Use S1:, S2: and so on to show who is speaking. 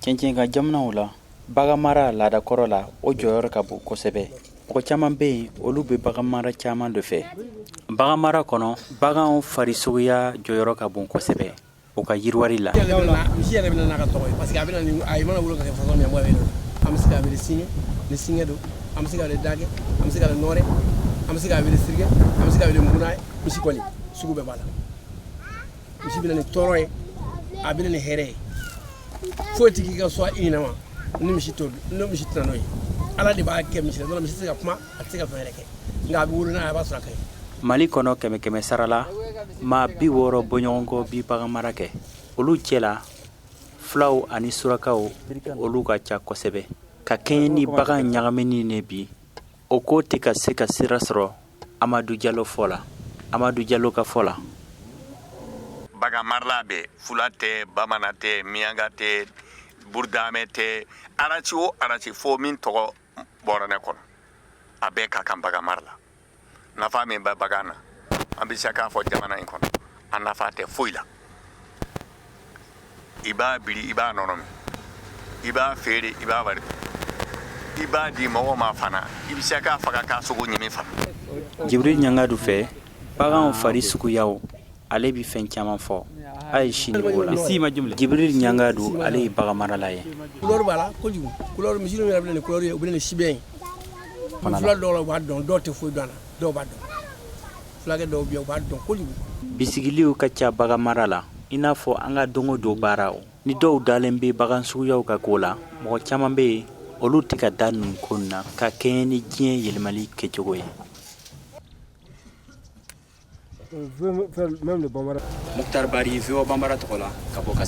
S1: cɛncɛn ka jamanaw la bagan mara laada kɔrɔ la o jɔyɔrɔ ka bon kosɛbɛ mɔgɔ caman bɛ yen olu bɛ bagan mara caman de fɛ bagan mara kɔnɔ baganw farisogoya jɔyɔrɔ ka bon kosɛbɛ o ka yiriwali la
S2: misi bɛ na ni tɔɔrɔ ye a bɛ na ni hɛrɛ ye foyi tɛ k'i ka so i ɲɛnama ni misi to ni misi tɛna n'o ye ala de b'a kɛ misi la misi tɛ se ka kuma a tɛ se ka fɛn yɛrɛ kɛ nka a bɛ wolo n'a ye a b'a sɔrɔ a ka ɲi mali kɔnɔ kɛmɛ
S1: kɛmɛ sara la maa bi wɔɔrɔ bɔɲɔgɔnko bi bagan mara kɛ olu cɛ la fulaw ani surakaw olu ka ca kosɛbɛ ka kɛɲɛ ni bagan ɲagamini ye bi o ko tɛ ka se ka sira sɔrɔ amadu jalo fɔ la amadu jalo ka fɔ
S3: la bagan mara la bi fula tɛ bamanan tɛ miyanka tɛ burudamɛ tɛ arasi o arasi fo min tɔgɔ bɔra ne kɔnɔ a bɛɛ ka kan bagan mara la nafa min bɛ bagan na an bɛ se k'a fɔ jamana in kɔnɔ a nafa tɛ foyi la i b'a biri i b'a nɔnɔ min i b'a feere i b'a wari i b'a di mɔgɔ ma fana i bɛ se k'a faga k'a sogo ɲimi fana jibiri
S1: ɲangadu fɛ baganw fari suguyaw ale bɛ fɛn caman fɔ a ye sini ko la jibiri ɲangadu ale ye bagan marala ye kulɔri b'a la
S2: kojugu kulɔri misi yɛrɛ bɛ na ni kulɔri ye u bɛ na ni sibɛn ye fula dɔw la u b'a dɔn dɔw tɛ foyi dɔn a la dɔw b'a dɔn fulakɛ dɔw bɛ yen u b'a dɔn kojugu bisigiliw
S1: ka ca bagan mara la i n'a fɔ an ka don o don baaraw ni dɔw dalen bɛ bagan suguyaw ka ko la mɔgɔ caman bɛ yen olu tɛ ka da ninnu ko na ka kɛɲɛ ni diɲɛ yɛlɛmali kɛcogo ye mutari bari voa bambara tɔgɔ la ka bɔ ka